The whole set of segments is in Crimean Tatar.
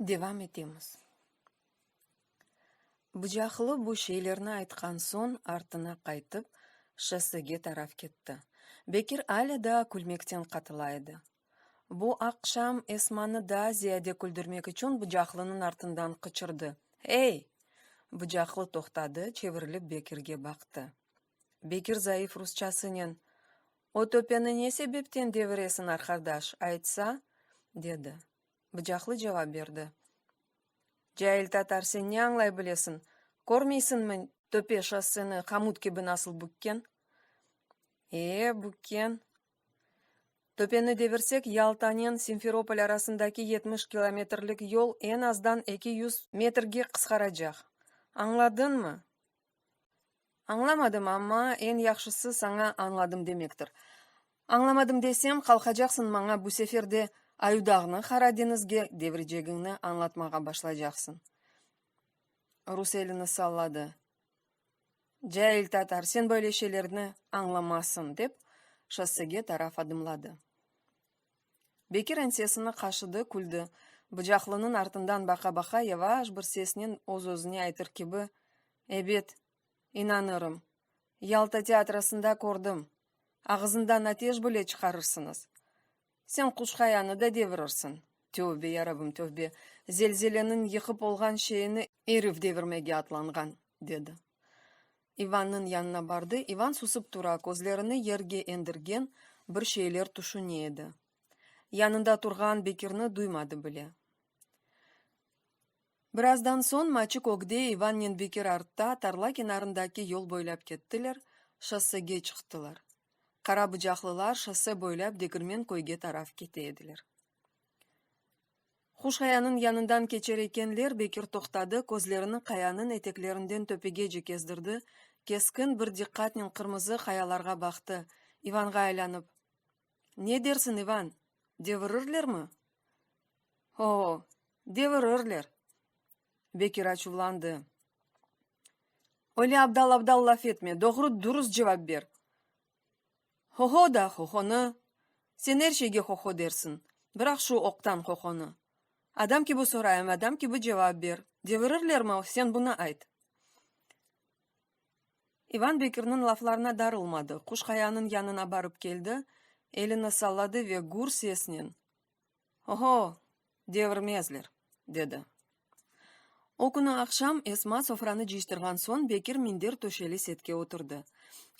Devam etemiz. Bıcaqlı bu şeylerni aytqan soñ artına qaytıp, şossege taraf ketti. Bekir alâ daa külmekten qatıla edi. Bu aqşam Esmanı daa ziyade küldürmek içün Bıcaqlınıñ artından qıçırdı, Ey! Bıcaqlı toqtadı, çevirilip Bekirge baqtı. Bekir zayıf rusçasınen, O töpeni ne sebepten deviresiñ, arqadaş, aytsa? dedi. Bıcaqlı cevap berdi, Cail tatar, sen ne añlay bilesiñ? Körmeysiñmi, töpe şosseni qamut kibi nasıl bükken? E, bükken. Töpeni devirsek, Yaltanen Simferopol arasındaki yetmiş kilometrlik yol eñ azdan eki yüz metrge qısqaracaq. Añladıñmı? Añlamadım, amma eñ yahşısı saña añladım demektir. Añlamadım desem, qalqacaqsıñ maña bu sefer de Ayudağnı Qara deñizge devirecegiñni añlatmağa başlaycaqsıñ. Rus elini salladı. Cail tatar, sen böyle şeylerni añlamasıñ, dep, şossege taraf adımladı. Bekir ensesini qaşıdı, küldi. Bıcaqlınıñ artından baqa-baqa, yavaş bir sesnen öz-özüne aytır kibi, Ebet, inanırım. Yalta teatrasında kördim. Ağızından ateş bile çıqarırsıñız. Sen quş-qayanı da devirirsiñ. Tövbe, yarabim, tövbe! Zelzeleniñ yıqıp olğan şeyini erif devirmege atlanğan, dedi. İvannıñ yanına bardı. İvan susıp tura, közlerini yerge endirgen, bir şeyler tüşüne edi. Yanında turğan Bekirni duymadı bile. Birazdan soñ Maçik ögde, İvannen Bekir artta, tarla kenarındaki yol boylap kettiler, şossege çıqtılar. Qara bıcaqlılar şosse boylap Degirmen köyge taraf kete ediler. Huşhayanıñ yanından keçer ekenler, Bekir toqtadı, közlerini qayanıñ eteklerinden töpegece kezdirdi, keskin bir diqqatnen qırmızı qayalarğa baqtı, İvanğa aylanıp, Ne dersiñ, İvan, devirirlermi? Ho-o, devirirler! Bekir açuvlandı. Öyle abdal-abdal laf etme, doğru-durus cevap ber! Ho-ho da ho-honı, sen er şeyge ho-ho dersiñ, bıraq şu oqtan ho-honı. Adam kibi sorayım, adam kibi cevap ber, devirirlermi, sen bunı ayt. İvan Bekirniñ laflarına darılmadı, Quşqayanıñ yanına barıp keldi, elini salladı ve gür sesnen. Oho, devirmezler, dedi. O künü aqşam Esma sofranı cıyştırğan soñ Bekir minder töşeli setke oturdı.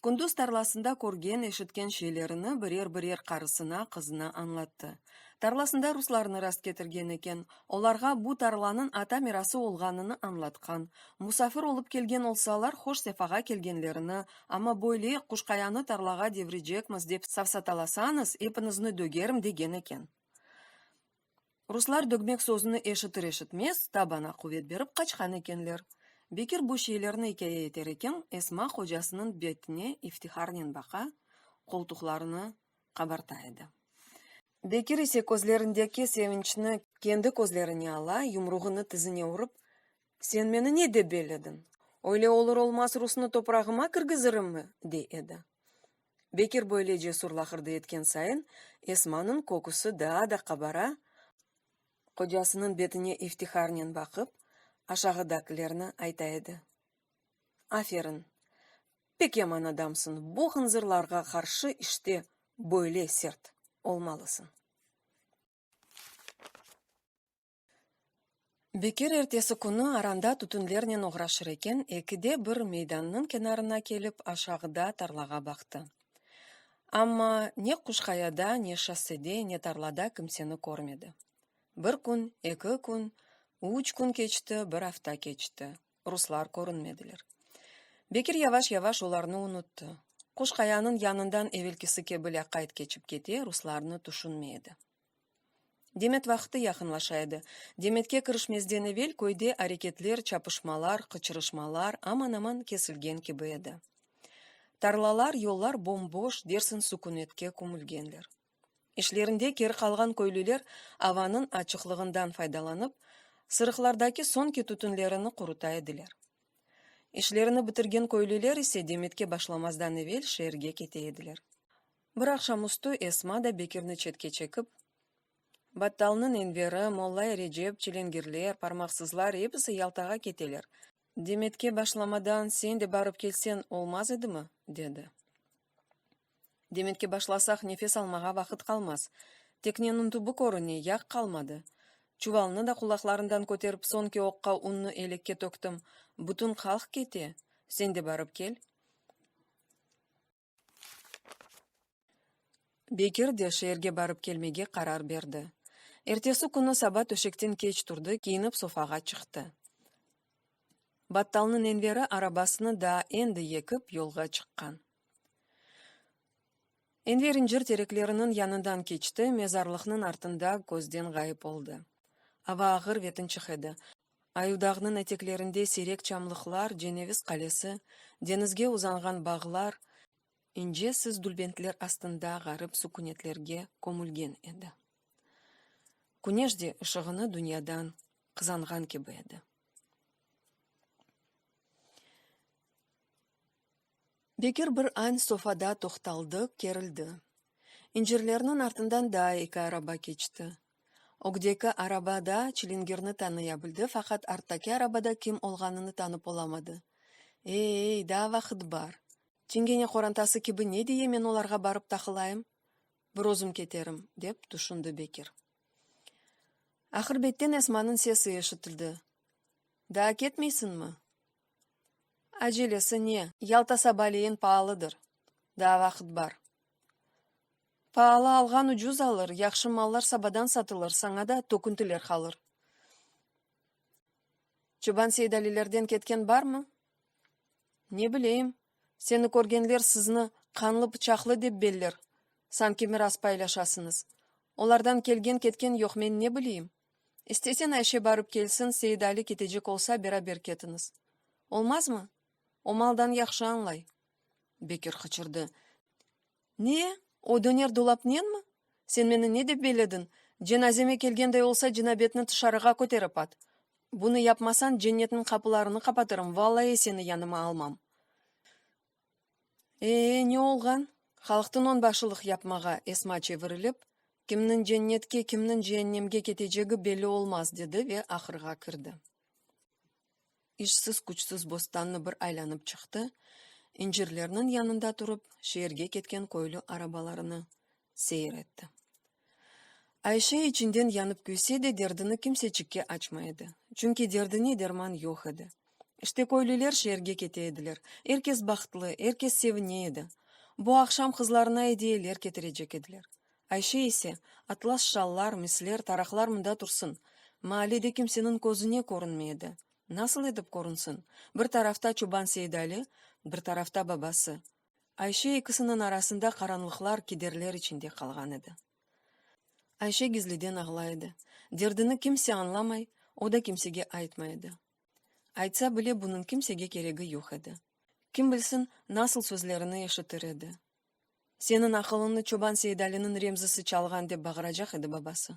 Kündüz tarlasında körgen, eşitken şeylerini birer-birer qarısına, qızına añlattı. Tarlasında ruslarnı rastketirgen eken, olarğa bu tarlanıñ ata mirası olğanını añlatqan, musafir olıp kelgen olsalar, hoş-sefağa kelgenlerini, Amma böyle quşqayanı tarlağa devirecekmiz dep safsatalasañız, epiñizni dögerim, degen eken. Ruslar dögmek sözüni eşitir-eşitmez, tabana quvet berip qaçqan ekenler. Bekir bu şeylerni ikâye eter eken, Esma qocasınıñ betine iftiharnen baqa, qoltuqlarını qabarta edi. Bekir ise közlerindeki sevinçni kendi közlerine ala, yumruğını tizine urıp, Sen meni ne dep bellediñ? Öyle olur-olmaz rusnı toprağıma kirgizirimi? dey edi. Bekir böyle cesur laqırdı etken sayın, Esmanıñ köküsi daa da qabara, qocasınıñ betine iftiharnen baqıp, aşağıdakilerni ayta edi, Aferin, pek yaman adamsıñ, bu hınzırlarğa qarşı işte böyle sert olmalısıñ. Bekir ertesi künü aranda tütünlernen oğraşır eken, ekide bir meydannıñ kenarına kelip, aşağıda tarlağa baqtı. Amma ne Quşqayada, ne şossede, ne tarlada kimseni körmedi. Bir kün, eki kün, üç kün keçti, bir afta keçti, ruslar körünmediler. Bekir yavaş-yavaş olarnı unuttı. Quşqayanıñ yanından evelkisi kibi lâqayt keçip kete, ruslarnı tüşünmey edi. Demet vaqıtı yaqınlaşa edi. Demetke kirişmezden evel köyde areketler, çapışmalar, qıçırışmalar aman-aman kesilgen kibi edi. Tarlalar, yollar bom-boş, dersin sükünetke kümülgenler. İşlerinde keri qalğan köylüler avanıñ açıqlığından faydalanıp, sırıqlardaki soñki tütünlerini quruta ediler. İşlerini bitirgen köylüler ise Demetke başlamazdan evel şeerge kete ediler. Bir aqşamüstü Esma da Bekirni çetke çekip, Battalnıñ Enveri, Mollay Recep, Çilengirler, Parmaqsızlar episi Yaltağa keteler, Demetke başlamadan sen de barıp kelseñ olmaz edimi? dedi. Demetke başlasaq nefes almağa vaqıt qalmaz. Tekneniñ tübü körüne, yaq qalmadı. Çuvalnı da qulaqlarından köterip soñki oqqa unnı elekke töktim, bütün qalq kete, sen de barıp kel. Bekir de şeerge barıp kelmege qarar berdi. Ertesi künü saba töşekten keç turdı, kiyinip sofağa çıqtı. Battalnıñ Enveri arabasını daa endi yekip yolğa çıqqan. Enver incir terekleriniñ yanından keçti, mezarlıqnıñ artında közden ğayıp oldı. Ava ağır ve tınçıq edi. Ayudağnıñ eteklerinde seyrek çamlıqlar, Ceneviz qalesi, deñizge uzanğan bağlar, ince siz dülbentler astında ğarip sukünetlerge kömülgen edi. Küneş de ışığını dünyadan qızanğan kibi edi. Bekir bir añ sofada toqtaldı, kerildi. İncirlerniñ artından daa eki araba keçti. Ögdeki araba da çilingirni tanıya bildi, faqat arttaki arabada kim olğanını tanıp olamadı. Ey-ey, daa vaqıt bar. Çingene qorantası kibi ne diye men olarğa barıp taqılayım? Bir özüm keterim, dep tüşündi Bekir. Aqırbetten Esmanıñ sesi eşitildi, Daa ketmeysiñmi? Acelesi ne? Yalta sabaleyin paalıdır. Daa vaqıt bar. Paalı alğan ucuz alır, yahşı mallar sabadan satılır, saña da töküntiler qalır. Çoban Seydalilerden ketken barmı? Ne bileyim, seni körgenler sizni qanlı-pıçaqlı dep beller, sanki miras paylaşasıñız. Olardan kelgen-ketken yoq, men ne bileyim? İstesen Ayşe barıp kelsin, Seit-Ali ketecek olsa, beraber ketiñiz. Olmazmı? O maldan yahşı añlay. Bekir qıçırdı. Ne? O döner dolapnenmi? Sen meni ne dep belediñ? Cenazeme kelgenday olsa, cinabetni tışarığa köterip at. Bunı yapmasan, cennetniñ qapılarını qapatırım, vallayi seni yanıma almam. Ee, ne olğan? Halıqtıñ onbaşılıq yapmağa, Esma çevirilip, Kimniñ cennetke, kimniñ cehennemge ketecegi belli olmaz, dedi ve ahırğa kirdi. İşsiz-küçsiz bostannı bir aylanıp çıqtı, incirlerniñ yanında turıp, şeerge ketken köylü arabalarını seyir etti. Ayşe içinden yanıp küyse de, derdini kimseçikke açmay edi, çünki derdine derman yoq edi. İşte köylüler şeerge kete ediler, er kes bahtlı, er kes sevine edi. Bu aqşam qızlarına ediyeler ketirecek ediler. Ayşe ise, atlas şallar, misler, taraqlar mında tursın! Maallede kimseniñ közüne körünmey edi. Nasıl etip körünsin? Bir tarafta çoban Seidali, bir tarafta babası. Ayşe ekisiniñ arasında qaranlıqlar, kederler içinde qalğan edi. Ayşe gizliden ağlay edi. Derdini kimse añlamay, o da kimsege aytmay edi. Aytsa bile, bunıñ kimsege keregi yoq edi. Kim bilsin, nasıl sözlerini eşitir edi. Seniñ aqılıñnı çoban Seidaliniñ Remzisi çalğan, dep bağıracaq edi babası.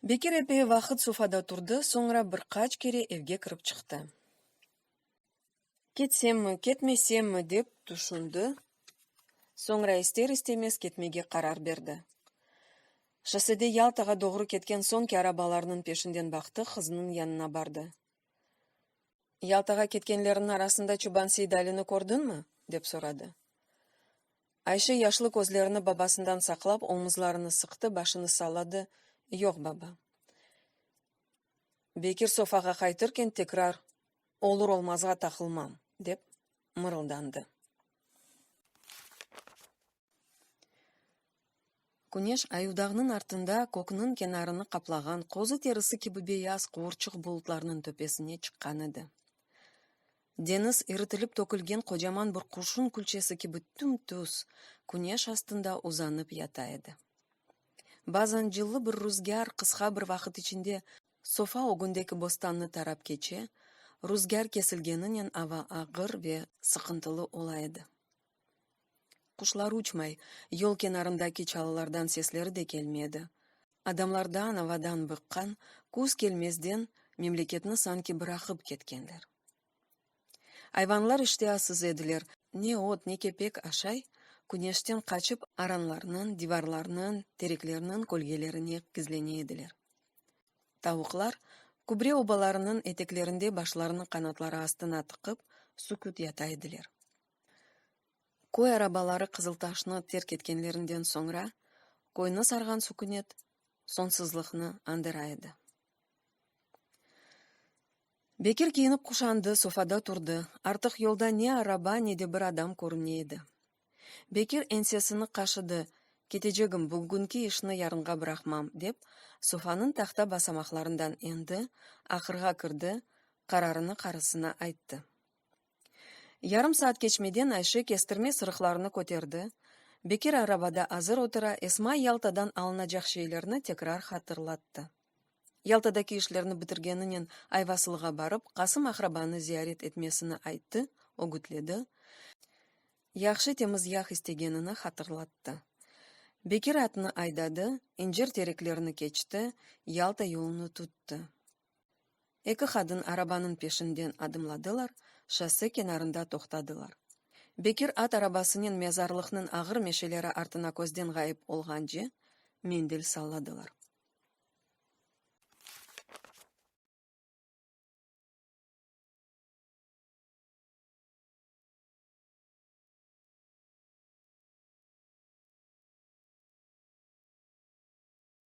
Bekir epey vaqıt sofada turdı, soñra bir qaç kere evge kirip çıqtı. Ketsemmi, ketmesemmi, dep tüşündi, soñra ister-istemez ketmege qarar berdi. Şossede Yaltağa doğru ketken soñki arabalarnıñ peşinden baqtı, qızınıñ yanına bardı. Yaltağa ketkenlerniñ arasında çoban Seydalini kördiñmi? dep soradı. Ayşe yaşlı közlerini babasından saqlap, omuzlarını sıqtı, başını salladı, Yoq, baba. Bekir sofağa qaytırken tekrar olur-olmazğa taqılmam, dep mırıldandı. Küneş ayudağnıñ artında kökniñ kenarını qaplağan qozı terisi kibi beyaz quurçıq bulutlarnıñ töpesine çıqqan edi. Deñiz iritilip tökülgen qocaman bir qurşun külçesi kibi tüm-tüz Küneş astında uzanıp yata edi. Bazan cıllı bir ruzgâr qısqa bir vaqıt içinde sofa ögündeki bostannı tarap keçe, ruzgâr kesilgeninen ava ağır ve sıqıntılı ola edi. Quşlar uçmay, yol kenarındaki çalılardan sesleri de kelmedi. Adamlardan, avadan bıqqan, küz kelmezden memleketni sanki bıraqıp ketkenler. Ayvanlar iştiasız ediler, ne ot, ne kepek aşay, küneşten qaçıp, aranlarnıñ, divarlarnıñ, tereklerniñ kölgelerine gizlene ediler. Tavuqlar, kübre obalarınıñ eteklerinde başlarını qanatları astına tıqıp, süküt yata ediler. Köy arabaları Qızıltaşnı terk etkenlerinden soñra, köyni sarğan sükünet soñsuzlıqnı andıra edi. Bekir kiyinip-quşandı, sofada turdı. Artıq yolda ne araba, ne de bir adam körünmey edi. Bekir ensesini qaşıdı, Ketecegim, bugünki işni yarınğa bıraqmam, dep, sofanıñ tahta basamaqlarından endi, ahırğa kirdi, qararını qarısına ayttı. Yarım saat keçmeden Ayşe kestirme sırıqlarını köterdi, Bekir arabada azır otura, Esma Yaltadan alınacaq şeylerni tekrar hatırlattı. Yaltadaki işlerni bitirgeninen Ayvasılığa barıp, Qasım aqrabanı ziyaret etmesini ayttı, ögütledi, yahşı temiz yah istegenini hatırlattı. Bekir atını aydadı, incir tereklerni keçti, Yalta yolunu tuttı. Eki qadın arabanıñ peşinden adımladılar, şosse kenarında toqtadılar. Bekir at arabasınen mezarlıqnıñ ağır meşeleri artına közden ğayıp olğance, mendil salladılar.